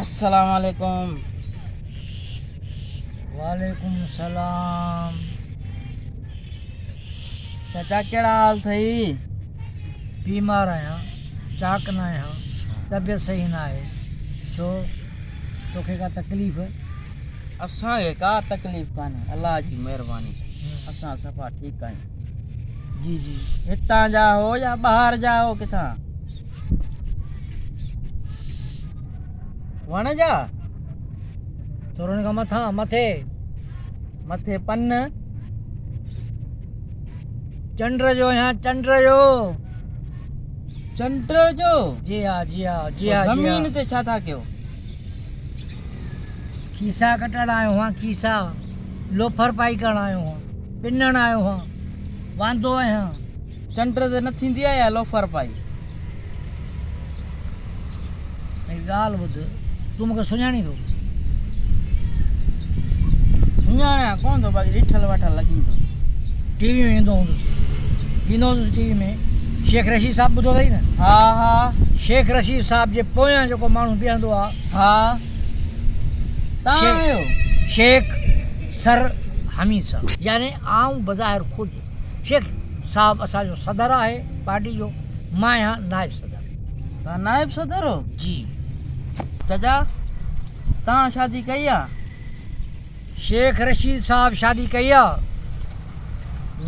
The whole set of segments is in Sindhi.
السلام عليڪم وعليڪم السلام چچا ڪهڙا حال اٿئي بيمار آهيان چاق نه آهيان طبيعت صحيح نه آهي ڇو توکي ڪا تڪليف. اسان کي ڪا تڪليف ڪانهي الله جي مهرباني سان اسان صفا ٺيڪ آهيون. جي جي هتان جا هو يا ٻاهر جا هو ڪٿان وڻ جا ٿورن کان مٿان مٿي مٿي پن چنڊ جو يا چنڊ جو چنڊ جو جي ها جي ها جي ها زمين تي ڇا ٿا ڪيو کيسا ڪٽڻ آيو هان کيسا لوفر پائي ڪرڻ آيو هان پنڻ آيو هان واندو آهيان چنڊ تي نه ٿيندي آهي يا لوفر پائي هڪ ڳالهه ٻڌ، تون مون کي سڃاڻين ٿو؟ سڃاڻيان ڪونه ٿو، باقي ڏٺل وٺل لڳين ٿو. ٽي وي ۾ ايندو هوندس. ايندو هوندس ٽي وي ۾. شيخ رشيد صاحب ٻڌو اٿئي نه؟ ها ها. شيخ رشيد صاحب جي پويان جيڪو ماڻهو بيهندو آ. ها. تان آهيو. شيخ سر حميد صاحب. يعني آئون بظاهر خود. شيخ صاحب اسان جو صدر آهي پارٽي جو مان آهيان نائب صدر. توهان نائب صدر هو؟ جي. چچا توهان شادي ڪئي آ؟ شيخ رشيد صاحب شادي ڪئي آ؟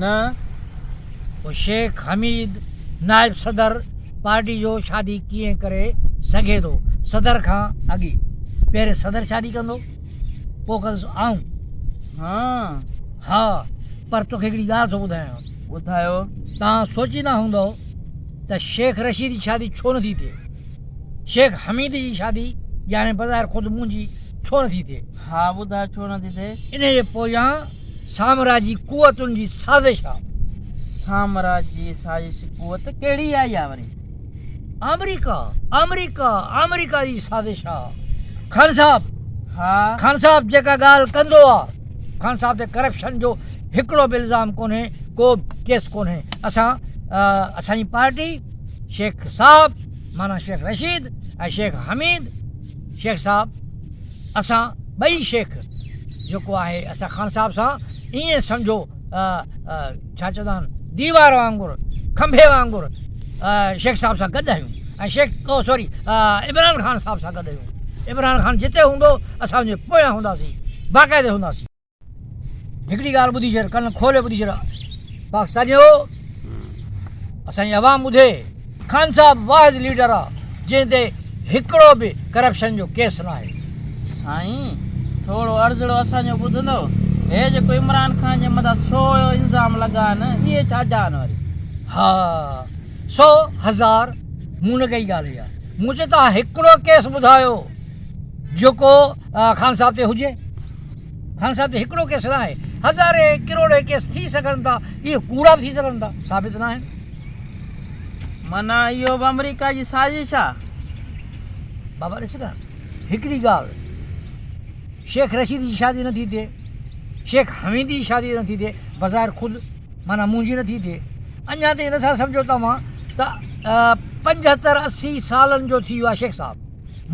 نه. پوء شيخ حميد نائب صدر پارٽي جو شادي ڪيئن ڪري سگهي ٿو صدر کان اڳي پهرين صدر شادي ڪندو. پوء ڪندس آئون. هان؟ ها، پر توکي هڪڙي ڳالهه ٿو ٻڌايان. ٻڌايو. توهان سوچيندا هوندؤ ته شيخ رشيد جي شادي ڇو نٿي ٿئي؟ شيخ حميد جي شادي ڄاڻي بظاهر خود منهنجي ڇو نٿي ٿئي؟ ها، ٻڌاء ڇو نٿي ٿئي؟ انهيء جي پويان سامراجي قوتن جي سازش آ. سامراجي سازش قوت ڪهڙي آئي آ وري؟ آمريڪا آمريڪا آمريڪا جي سازش آ خان صاحب ها خان صاحب جيڪا ڳالهه ڪندو آ خان صاحب تي ڪرپشن جو هڪڙو به الزام ڪونهي ڪو ڪيس ڪونهي اسان اسان جي پارٽي شيخ صاحب مانا شيخ رشيد ۽ شيخ حميد شيخ صاحب اسان ٻئي شيخ جيڪو آهي اسان خان صاحب سان ائين سمجهو ڇا چوندا آهن ديوار وانگر کنڀي وانگر شيخ صاحب سان گڏ آهيون ۽ شيخ او سوري عمران خان صاحب سان گڏ آهيون عمران خان جتي هوندو اسان ان جي پويان هونداسين باقاعدي هونداسين هڪڙي ڳالهه ٻڌي ڇڏ ڪن کولي ٻڌي ڇڏ پاڪستانيو اسان جي عوام ٻڌي خان صاحب واحد ليڊر آ جنهن تي هڪڙو به ڪرپشن جو ڪيس ناهي. سائين ٿورو عرضڙو اسان جو ٻڌندؤ هي جيڪو عمران خان جي مٿان سو الزام لڳا آهن اهي ڇا جا آهن وري. ها سو هزار مون نه ڪئي ڳالهه اها مون چي توهان هڪڙو ڪيس ٻڌايو جيڪو خان صاحب تي هجي خان صاحب تي هڪڙو ڪيس ناهي هزارين ڪروڙين ڪيس ٿي سگهن ٿا اهي ڪوڙا ٿي سگهن ٿا ثابت ناهن. معنيٰ اهو به آمريڪا جي سازش آ. بابا ڏس نه هڪڙي ڳالهه شيخ رشيد جي شادي نه ٿي ٿئي شيخ حميد جي شادي نه ٿي ٿئي بظاهر خود معنيٰ منهنجي نه ٿي ٿئي اڃا تائين نٿا سمجهو توهان ته پنجهتر اسي سالن جو ٿي ويو آ شيخ صاحب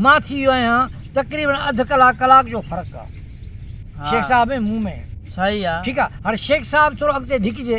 مان ٿي ويو آهيان تقريبن اڌ ڪلاڪ ڪلاڪ جو فرق آ شيخ صاحب ۽ مون ۾. صحيح آ. ٺيڪ آ هاڻي شيخ صاحب ٿورو اڳتي ڌڪجي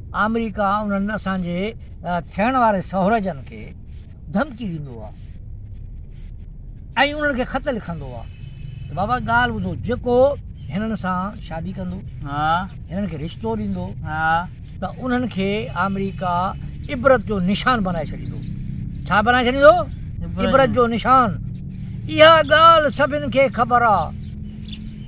آمريڪا انهن اسان جي ٿيڻ واري سهورجن کي ڌمڪي ڏيندو آهي ۽ انهن کي خط لکندو آهي ته بابا ڳالهه ٻڌو جيڪو هنن سان شادي ڪندو هنن کي رشتو ڏيندو ته انهن کي آمريڪا عبرت جو نشان بنائي ڇڏيندو ڇا بنائي ڇڏيندو عبرت جو نشان اها ڳالهه سڀن کي خبر آهي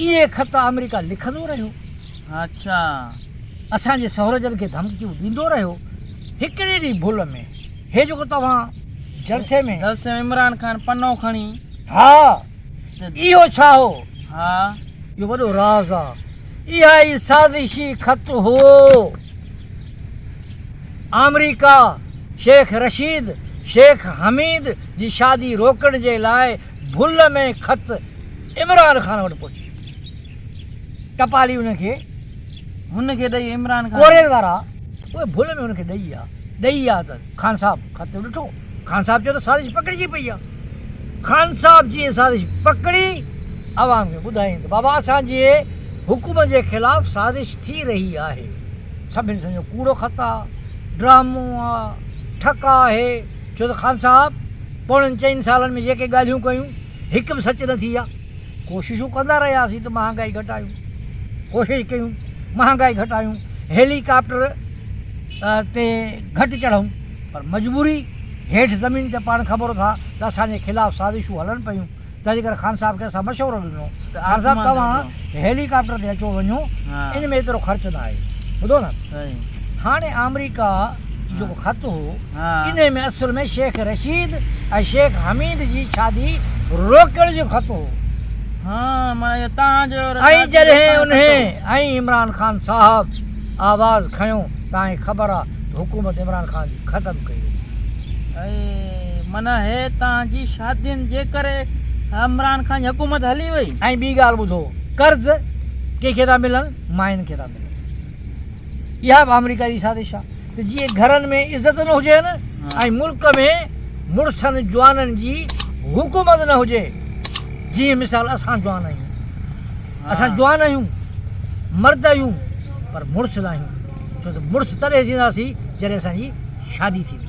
اهي خط آمريڪا لکندو رهيو. اڇا. اسان جي سهرجن کي ڌمڪيون ڏيندو رهيو. هڪڙي ڏينهن ڀل ۾، هي جيڪو توهان جلسي ۾. جلسي ۾ عمران خان پنو کڻي. ها. اهو ڇا هو؟ ها. اهو وڏو راز آ. اها ئي سازشي خط هو. آمريڪا شيخ رشيد، شيخ حميد جي شادي روڪڻ جي لاء ڀل ۾ خط. عمران خان وٽ پهچي ٽپالي ان کي هن کي ڏئي عمران خان ڪوريل وارا اهي ڀل ۾ ان کي ڏئي آ ڏئي آ ته خان صاحب خط ڏٺو خان صاحب چيو ته سازش پڪڙجي پئي آ خان صاحب جي سازش پڪڙي عوام کي ٻڌائين ته بابا اسان جي حڪومت جي خلاف سازش ٿي رهي آهي سڀن سمجهيو ڪوڙو خط آ ڊرامو آ ٺڪ آهي ڇو ته خان صاحب پوڻن چئن سالن ۾ جيڪي ڳالهيون ڪيون هڪ به سچ نه ٿي آهي، ڪوششون ڪندا رهياسين ته مهانگائي گهٽايون، ڪوشش ڪيون مهانگائي گهٽايون، هيلي ڪاپٽر تي گهٽ چڙهون پر مجبوري هيٺ زمين تي پاڻ خبر ٿا ته اسان جي خلاف سازشون هلن پيون تنهنجي ڪري خان صاحب کي اسان مشورو ڏنو ته خان صاحب توهان هيلي ڪاپٽر تي اچو وڃو ان ۾ ايترو خرچ نه آهي ٻڌو نه هاڻي آمريڪا جو خط هو، انهي ۾ اصل ۾ شيخ رشيد ۽ شيخ حميد جي شادي روڪڻ جو خط هو ۽ جڏهن انهي ۽ عمران خان صاحب آواز کنيو ته آئين خبر آ ته حڪومت عمران خان جي ختم ڪئي وئي. ۽ ٻي ڳالهه ٻڌو قرض ڪنهن کي ٿا ملن ماين کي ٿا ملن. اها به آمريڪا جي سازش آهي ته جيئن گهرن ۾ عزت نه هجين ۽ ملڪ ۾ مڙسن جوانن جي حڪومت نه هجي جيئن مثال اسان جوان آهيون اسان جوان آهيون مرد آهيون پر مڙس ناهيون ڇو ته مڙس تڏهن ٿينداسين جڏهن اسان جي شادي ٿيندي